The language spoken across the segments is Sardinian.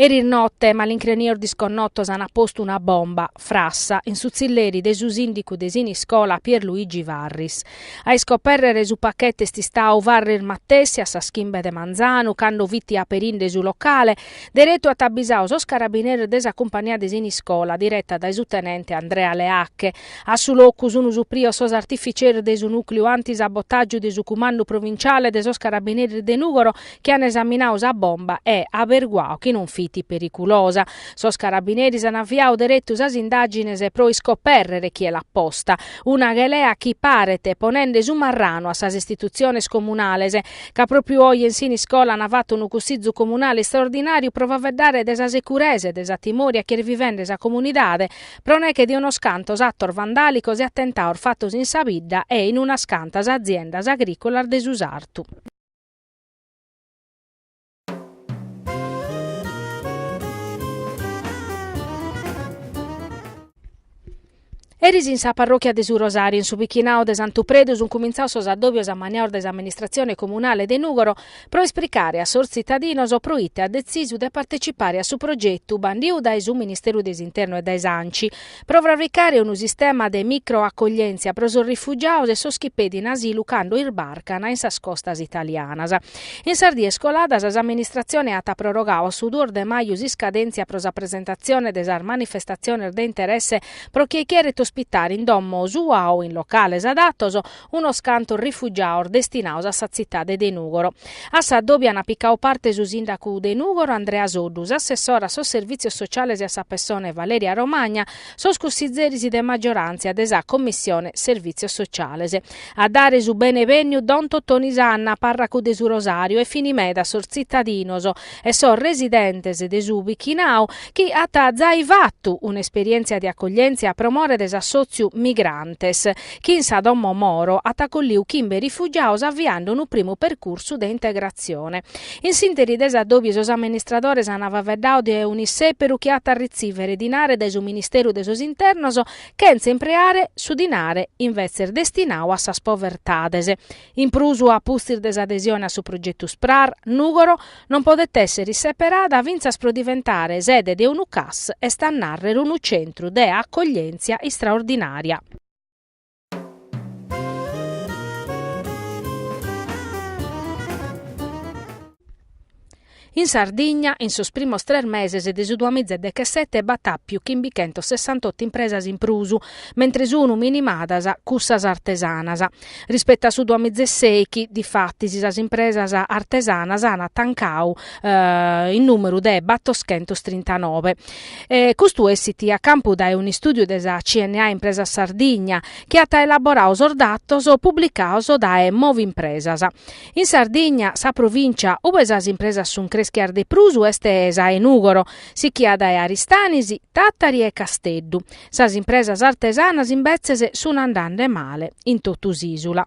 Eris note malincrenios disconnotos ant postu una bomba, frassa, in su tzilleri de su sìndicu de Siniscola Pier Luigi Farris. A iscopèrrere su pachete est istadu Farris matessi a sas chimbe de manzanu cando fit aperinde su locale Deretu at abisadu sos carabineris de sa cumpania de Siniscola, direta dae su tenente Andrea Leacche. A su locu sun suprios sos artificieris de su nùcliu anti-sabotàgiu de su Cumandu Provinciale de sos Carabineris de Nùgoro chi ant esaminadu sa bomba e averguadu chi non fit periculosa. Sos carabineris ant aviadu deretu sas indàgines pro iscopèrrere chie l'at posta. Una ghelea chi paret ponende su marranu a sas istitutziones comunales. ca pròpriu oje in Siniscola an fatu unu cussizu comunale istraordinàriu pro faveddare de sa securesa e de sa timòria chi est vivende sa comunidade pro neghe de unos cantos atos vandàlicos e atentados fatos in sa bidda e in unas cantas aziendas agrìcolas de su sartu. Eris in sa parròchia de su Rosàriu, in su bichinadu de Santu Predu, sunt cumintzados sos addòbios ammaniados de s'amministratzione comunale de Nùgoro pro esplicare a sos tzitadinos pro ite at detzisu de partecipare a su progetu bandidu dae su Ministeru de s'Internu e dae s'Anci, pro frabricare unu sistema de micro-acoglièntzia pro sos rifugiados e sos chi pedin asilu cando isbarcana in sas costas italianas. In sas dies coladas s'amministratzione at prorogadu a su duos de maju s'iscadèntzia pro sa presentatzione de sas manifestatziones de interesse pro chie cheret ospitare in domo sua o in locales adatos unos cantos rifugiados destinados a sa tzitade de Nùgoro. A s'addòbiu ant picadu parte su sìndacu de Nùgoro Andrea Soddu, s'assessora a sos Servìtzios Sociales e a sa Pessone Valeria Romagna, sos cussitzeris de maggioràntzia de sa Commissione Servìtzios Sociales. A dare su bene-bènniu don Totoni Sanna, pàrracu de su Rosàriu e fini meda sos tzitadinos, e sos residentes de su bichinau chi at zai fatu un'esperièntzia de acoglièntzia pro more de s'assòtziu Migrantes, chi in sa domo Moro at acolliu chimbe rifugiados aviande unu primu percursu de integratzione. In s'ìnteri de s'addòbiu sos amministradores ant faeddadu de un'issèperu chi at a retzìvere dinare dae su Ministeru de sos Internos chentza impreare su dinare invetzes destinadu a sas povertades In prus, a pustis de s'adesione a su progetu Sprar, Nùgoro non podet èssere isseperada fintzas pro diventare sede de unu CAS, est a nàrrere unu centru de acoglièntzia istraordinària. In Sardigna, in sos primos tres meses de su duamiza e dechesete b'at àpiu chimbichentos sessantotto impresas in prus, mentres sun minimadas cussas artesanas. Rispetu a su duamiza e sèichi, difatis, sas impresas artesanas an tancadu in nùmeru de battoschentos trintanove. Custu essit a campu dae un'istùdiu de sa CNA Impresas Sardigna chi at elaboradu sos datos publicados dae Movimpresas. In Sardigna sa provìncia ue sas impresas sunt creschias de prus est sa 'e Nùgoro, sichia dae Aristanis, Tàtari e Casteddu. Sas impresas artesanas imbetzes sunt andande male in totu s'ìsula.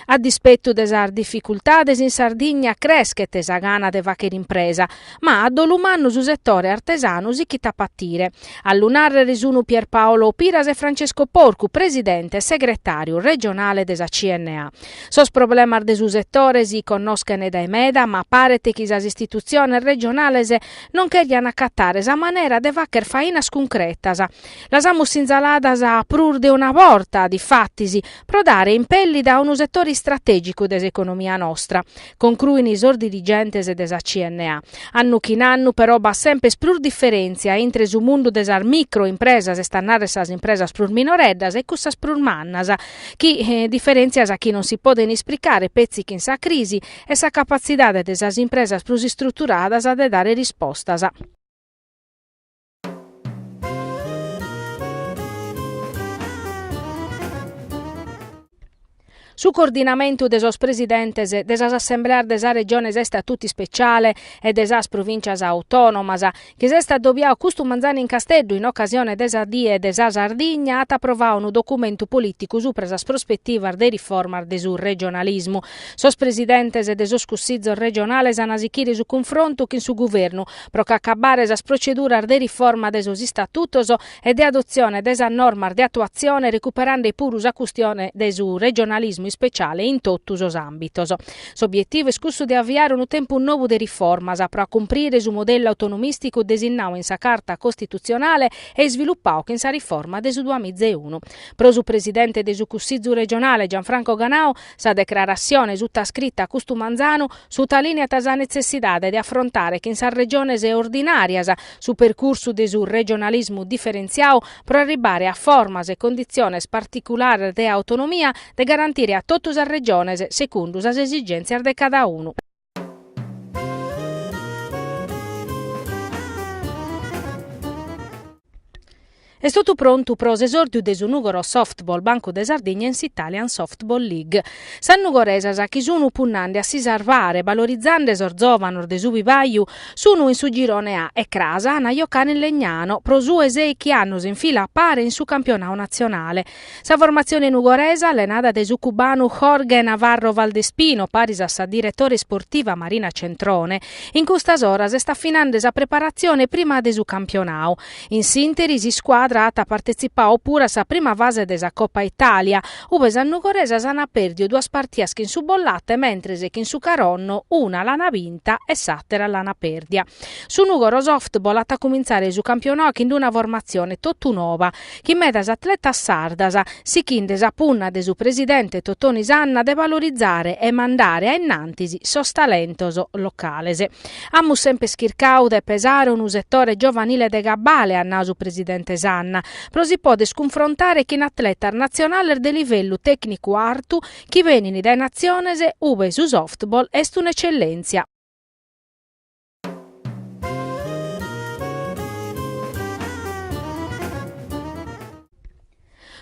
A dispetu de sas dificultades in Sardigna creschet sa gana de fàghere impresa, ma a dolu mannu su setore artesanu sichit a patire. A lu nàrrere sunt Pierpaolo Piras e Francesco Porcu, presidente e segretàriu regionale de sa CNA. Sos problemas de su setore si connoschent dae meda ma paret chi sas istitutziones regionales non cherian acatare sa manera de fagher fainas cuncretas. Las amus sinzaladas prus de una borta, difatis, pro dare impèllida a unu setore istratègicu de s'economia nostra, Concruin sos dirigentes de sa CNA. Annu chin annu però b'at semper prus diferèntzia intre su mundu de sas micro impresas, est a narrer sas impresas prus minoreddas, e cussas prus mannas, chi diferèntzias chi non si poden ispricare petzi chin sa crisi e sa capatzidade de sas impresas prus istruturadas de dare rispostas. Su coordinamentu de sos presidentes de sas assembleas de sas Regiones a istatutu ispeciale e de sas Provìncias Autònomas, chi s'est adobiadu custu manzanu in Casteddu in ocasione de sa Die de sa Sardigna, at aprovadu unu documentu polìticu supra sas prospetivas de riformas de su regionalismu. Sos presidentes de sos Cussizos regionales an a sichire su cunfrontu chin su Guvernu pro ch'acabbare sas proceduras de riforma de sos istatutos e de adotzione de sas normas de atuatzione recuperande puru sa custione de su regionalismu ispeciale in totu sos àmbitos. S'obietivu est cussu de aviare unu tempus nou de riformas pro acumprire su modellu autonomìsticu desinnadu in sa Carta costitutzionale e isvilupadu chin sa riforma de su duamizaunu. Pro su presidente de su Cussizu regionale Gianfranco Ganau, Sa declaratzione sutascrita a custu manzanu sutalìneat sa netzessidade de afrontare chin sas Regiones ordinàrias su percursu de su regionalismu diferentziadu pro arribbare a formas e conditziones particulares de autonomia de garantire a totu sas Regiones secundu sas esigèntzias de cada unu. Est totu prontu pro s'esòrdiu de su Nùgoro Softball Bancu de Sardigna in s'Italian Softball League. Sas nugoresas chi sun punnande a si sarvare balorizande sos zòvanos de su bibaju sun in su girone A e cras an a jocare in Legnano pro su 'e sèichi annos in fila a pare in su campionadu natzionale. Sa formatzione nugoresa, allenada dae su cubanu Jorge Navarro Valdespino, paris a sa diretore isportiva Marina Centrone, in custas oras est afinande sa preparatzione prima de su campionau. In s'ìnteri s'iscuadra at partetzipau puru a sa prima fase de sa Copa Italia, ube sas nugoresas ant pèrdiu duas partias chin su Bollate mentres chin su Caronno una l'ant binta e s'àtera l'ant pèrdia. Su Nugoro Softball at a cumintzare su campionau chin una formatzione totu noba, chin medas atletas sardas sichinde sa punna de su presidente Totoni Sanna de valorizare e mandare a innantis sos talentos locales. Amus semper chircau de pesare unu setore giovanile de cabale, at nau su presidente Sanna, pro si poder cunfrontare chin atletas natzionales de livellu tècnicu artu chi benin dae natziones ube su softball est un'etzellèntzia.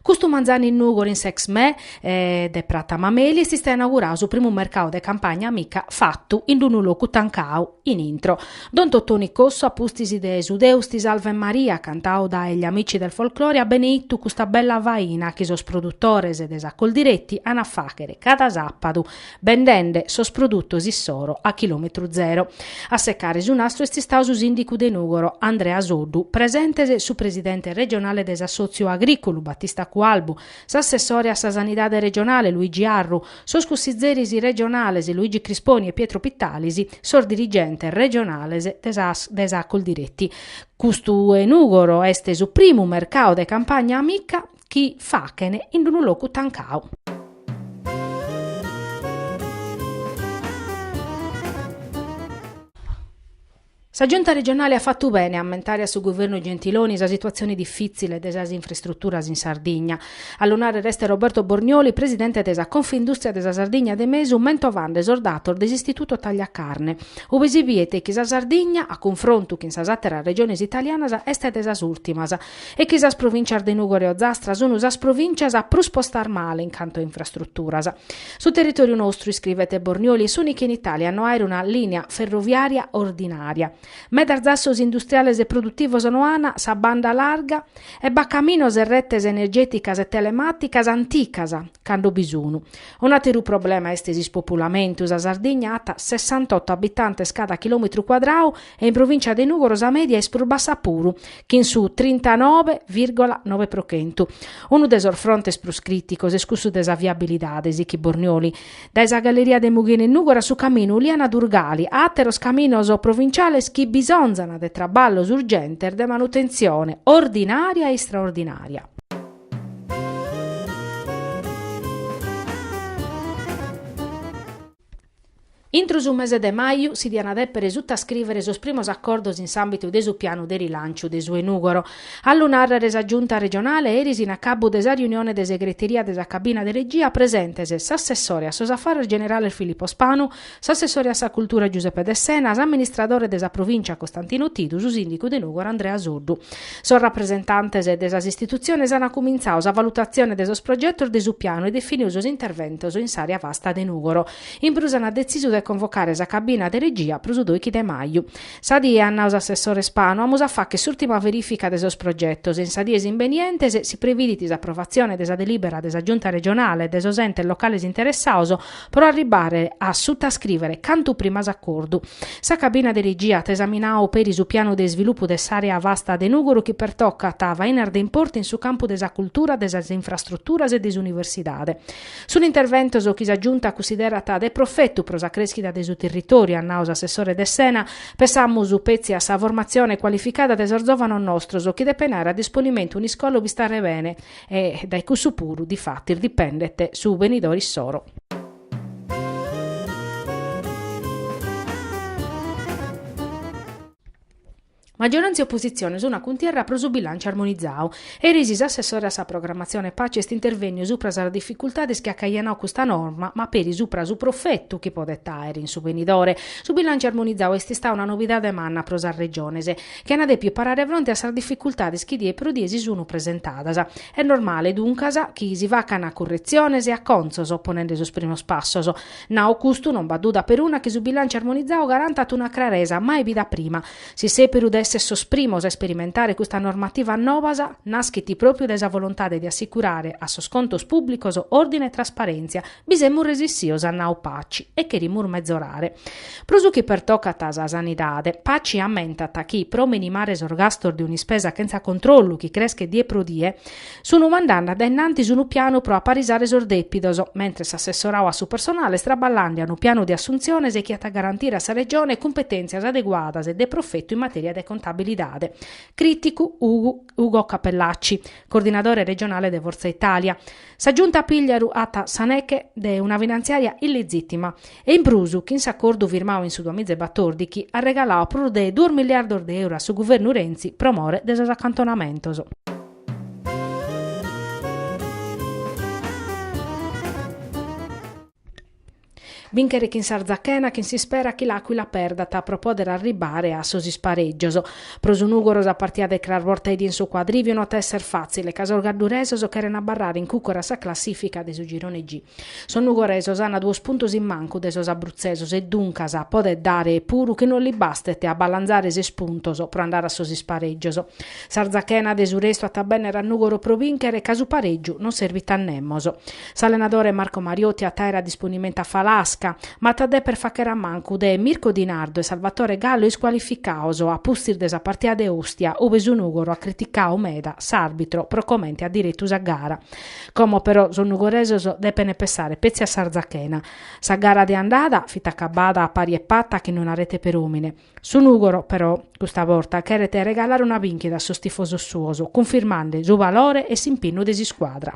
Custu manzanu in Nùgoro in s'Exmè de Prata Mameli est istau inaugurau su primu mercadu de Campagna Amica fatu in unu locu tancau in intro. Don Totoni Cossu a pustis de su Deus ti salvet Maria cantau dae Gli Amici del Folklore at beneitu custa bella faina chi sos produtores de sa Coldiretti an a fàghere cada sàpadu bendende sos produtos issoro a chilòmetru zero. A secare su nastru est istau su sìndicu de Nùgoro, Andrea Soddu, presentes su presidente regionale de s'assòtziu agrìcolu, Battista Cualbu, s'assessore a sa sanidade regionale, Luigi Arru, sos cussizeris regionales, Luigi Crisponi e Pietro Pittalis, sos dirigentes regionales de sa Coldiretti. Custu 'e Nùgoro est su primu mercau de Campagna Amica chi fachen in unu locu tancau. Sa Giunta regionale at fatu bene a ammentare a su Guvernu Gentiloni sa situatzione difìtzile de sas infrastruturas in Sardigna. A lu nàrrer est Roberto Bornioli, presidente de sa Confindùstria de sa Sardigna de Mesu, mentovande sos datos de s'Istituto Tagliacarne, ube si biet chi sa Sardigna, a cunfrontu chin sas àteras regiones italianas, est de sas ùrtimas. e chi sas provìncias de Nùgoro e Ozastra sunu sas provìncias prus postas male in cantu a infrastruturas. Su territòriu nostru, iscrivet Bornioli, est s'ùnicu in Itàlia a no aer una lìnia ferroviària ordinària. Medas zassos industriales e produtivos no an sa banda larga e b'at caminos e retes energèticas e telemàticas anticas, cando bi sunu. Un'àteru problema est s'ispopulamentu, sa Sardigna at sessantotto abitantes cada chilòmetru cuadrau, e in provìncia de Nùgoro sa mèdia est prus bassa puru, chin su trintanove virgola nove pro chentu. Unu de sos frontes prus crìticos est cussu de sa viabilidade, sichit Bornioli. Dae sa galleria de Mughina in Nùgoro a su caminu Uliana-Durgali, a àteros caminos provinciales chi bisonzan de traballos urgentes de manutentzione ordinària e istraordinària. Intro su mese de maju si diana depere sutascrivere sos primos accordos in s'ambitu de su pianu de rilanciu de su 'e Nugoro. A lu narrere sa Giunta regionale eris in acabbu de sa riunione de segreteria de sa cabina de regia presentes s'assessore a sos affarres generales Filippo Spanu, s'assessore a sa cultura Giuseppe Dessena, s'amministradore de sa provincia Costantino Tidu, su sindicu de Nugoro Andrea Soddu. Sos rapresentantes de sas istitutziones an cumintzau sa valutatzione de sos progetos de su pianu e definiu sos interventos in s'àrea vasta de Nùgoro. In prus an detzisu de convocare sa cabina de regia pro su dòichi de maju. Sa die, at nau s'assessore Spanu, amus a fàchere s'ùrtima verìfica de sos progetos e in sas dies imbenientes si previdit s'aprovatzione de sa delìbera de sa Giunta regionale e de sos entes locales interessaos pro arribbare a sutascrivere cantu prima s'acordu. Sa cabina de regia at esaminau peri su pianu de isvilupu de s'àrea vasta de Nùgoro chi pertocat fainas de importu in su campu de sa cultura, de sas infrastruturas e de s'universidade. Sunt interventos chi sa Giunta cussiderat de profetu pro sa crèschida de su territòriu, at nau s'assessore Dessena. Pessamus petzi a sa formatzione cualificada de sos zòvanos nostros chi depen àere a disponimentu un'iscola ube istare bene, E dae cussu puru difatis dipendet su benidore issoro. Maggiorantzia e oppositzione sun a cuntierra pro su bilànciu armonizau. Eris s'assessore a sa programmatzione Paci est intervènniu supra sas dificultades chi at cajonau custa norma ma peri supra su profetu chi podet àere in su benidore. Su bilànciu armonizau est istau una novidade manna pro sas Regiones. chi ana dèppiu parare fronte a sas dificultades chi die pro die si sunu presentadas. Est normale, duncas, chi si facana curretziones e acontzos, ponende sos primos passos. Nau custu, non b'at duda peruna chi su bilànciu armonizau garantat una craresa mai bida prima. S'issèperu de èssere sos primos a isperimentare custas normativas nobas, naschit pròpiu dae sa volontade de assicurare a sos contos pùblicos òrdine e trasparèntzia, Bi semus resissios at nau Paci e cherimus mezorare. Pro su chi pertocat a sa sanidade, Paci ammentat chi pro minimare sos gastos de un'ispesa chentza controllu chi creschet die pro die, sun mandande a dae in antis unu pianu pro aparisare sos dèpidos, mentres s'assessorau a su personale est traballande a unu pianu de assuntziones chi at a garantire a sa Regione cumpetèntzias adeguadas e de profetu in matèria de contabilidade, crìticu Ugo Cappellacci, coordinadore regionale de Fortza Italia. Sa Giunta Pigliaru at sa neche de una finantziària illizìtima e in prus chin s'acordu firmau in su duamiza e batòrdichi at regaladu prus de duos miliardos de euro a su guvernu Renzi pro more de sos acantonamentos. Bìnchere chin s'Arzachena chin s'ispera chi l'Àquila perdat pro pòdere arribbare a sos isparègios. Pro su Nùgoro sa partida de cras bortaedie in su Cuadrìviu no at a èssere fàtzile ca sos gadduresos cheren abarrare in cùcuru a sa classìfica de su girone G. Sos nugoresos an duos puntos in mancu de sos abrutzesos e duncas podet dare puru chi no lis bastet a balanzare ses puntos pro andare a sos isparègios. S'Arzachena de su restu at a bènnere a Nùgoro pro bìnchere ca su parègiu no servit a nemos. S'allenadore Marco Mariotti at àere a disponimentu a Falasca, ma at a dèpere fàchere a mancu de Mirko Di Nardo e Salvatore Gallo iscualificaos a pustis de sa partida de Ostia ube su Nùgoro at criticau meda s'àrbitro pro comente at diretu sa gara. Como però sos nugoresos depene pessare petzi a s'Arzachena. Sa gara de andada fit acabada a pari e pata chin una rete per òmine. Su Nùgoro però custa borta cheret regalare una bìnchida a sos tifosos suos cunfirmande su valore e s'impinnu de s'iscuadra.